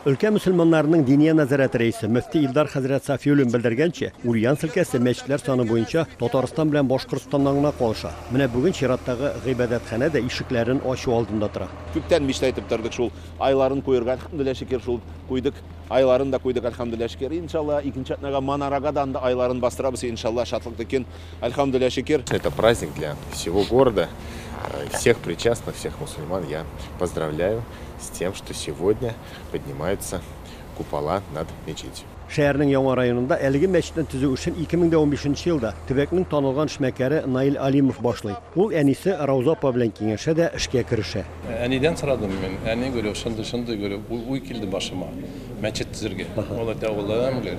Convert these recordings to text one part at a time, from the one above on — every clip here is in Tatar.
Өлкә мөселманнарының Диния нәзарәте рәисе мөфти Илдар хәзрәт Сафиуллин белдергәнчә, Ульян өлкәсе мәчетләр саны буенча Татарстан белән Башкортстаннан гына калыша. Менә бүген чираттагы гыйбадәтханә дә ишекләрен ачу алдында тора. Күптән мечта итеп тордык шул айларын куерга, әлхәмдүлилләһ шөкер, шул куйдык, айларын да куйдык, әлхәмдүлилләһ шөкер. Иншаллаһ, икенче атнага манарага да анда айларын бастырабыз, иншаллаһ, шатлыклы көн. Альхамдуля шикер. Это праздник для всего города, э, всех причастных, всех мусульман. Я поздравляю с тем, что сегодня поднимаются купола над мечетью. Шәһәрнең яңа районында әлеге мәчетне төзү эшен 2015 елда төбәкнең танылган эшмәкәре Наил Алимов башлый. Ул әнисе Рауза апа белән киңәшә дә эшкә керешә. Әнидән сорадым мин. Әни гөрю, шундый, шундый гөрю, уй килде башыма. Мәчет төзергә. Ул әйтә, улым, гөрю.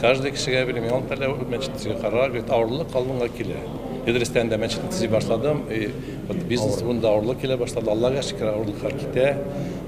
Каждый кешегә бирим. Ял тәлә мәчет төзергә карар, гөрю, авырлык калынга килә. Идрестә инде мәчет төзи башладым. И, вот бизнес урында авырлык килә башлады. Аллага шөкер, авырлыклар китә.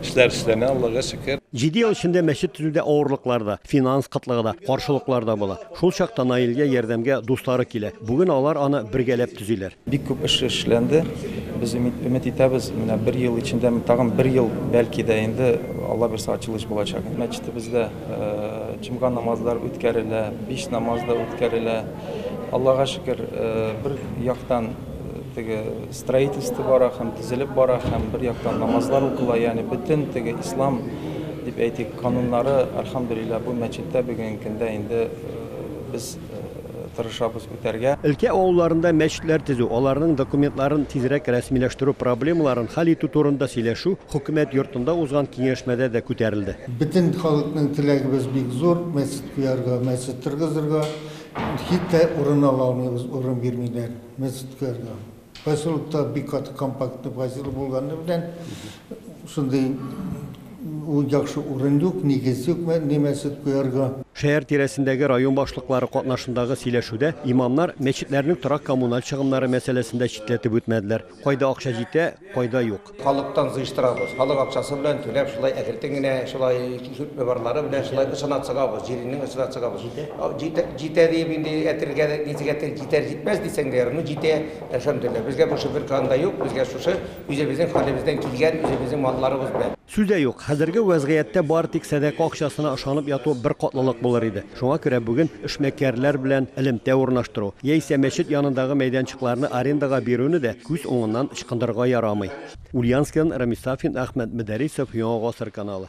Эшләр эшләнә, Аллага шөкер. Җиде ел эчендә мәчет төзүдә авырлыклар да, финанс кытлыгы да, каршылыклар да була. Шул чакта Наилгә ярдәмгә дуслары килә. Бүген алар аны бергәләп төзиләр. Бик күп эш эшләнде. Без өмет итәбез, менә бер ел эчендә, тагын бер ел, бәлки дә инде, Алла бирса, ачылыш булачак. Мәчетебездә җомга намазлары үткәрелә, биш намаз да үткәрелә. Аллага шөкер, бер яктан, теге, Строительство бара һәм төзелеп бара һәм бер яктан намазлар укыла, ягъни бөтен теге ислам дип әйтик, кануннары, альхамдулилла, бу мәчеттә бүгенге көндә инде без тырышабыз үтәргә. Өлкә авылларында мәчетләр төзү, аларның документларын тизрәк рәсмиләштерү проблемаларын хәл итү турында сөйләшү Хөкүмәт йортында узган киңәшмәдә дә күтәрелде. Бөтен халыкның теләгебез бик зур, мәчет куярга, мәчет торгызырга. Хиттә урын ала алмыйбыз, урын бирмиләр. Мәчеткә генә. Поселокта бик каты компактный поселок булганы белән, шундый яхшы урын юк, нигез юк мәчет куярга. Шәһәр тирәсендәге район башлыклары катнашындагы сөйләшүдә имамнар мәчетләрнең торак-коммуналь чыгымнары мәсьәләсен дә читләтеп үтмәделәр. Кайда акча җитә, кайда юк. Халыктан җыештырабыз, халык акчасы белән түләп, шулай әкертен генә, шулай сүтмебарлары белән шулай ычына чыгабыз, җиреннән ычына чыгабыз. Җитә, җитә диеп инде әйтергә дә ничек әйтер, җитәр җитмәс дисәң дә ярый, ну җитә, әлхәмдүлилләһ. Безгә бу шөбер кан да юк, безгә шушы үзебезнең хәлебездән килгән, үзебезнең малларыбыз белән. Сүз дә юк, хәзерге вәзгыятьтә бары тик сәдака акчасына ышанып яту беркатлылык булыр иде. Шуңа күрә бүген эшмәкәрләр белән элемтә урнаштыру яисә мәчет янындагы мәйданчыкларны арендага бирүне дә күз уңыннан ычкындырырга ярамый. Ульяновскидан Рамис Сафин, Әхмәт Мөдәрисов, Яңа гасыр каналы.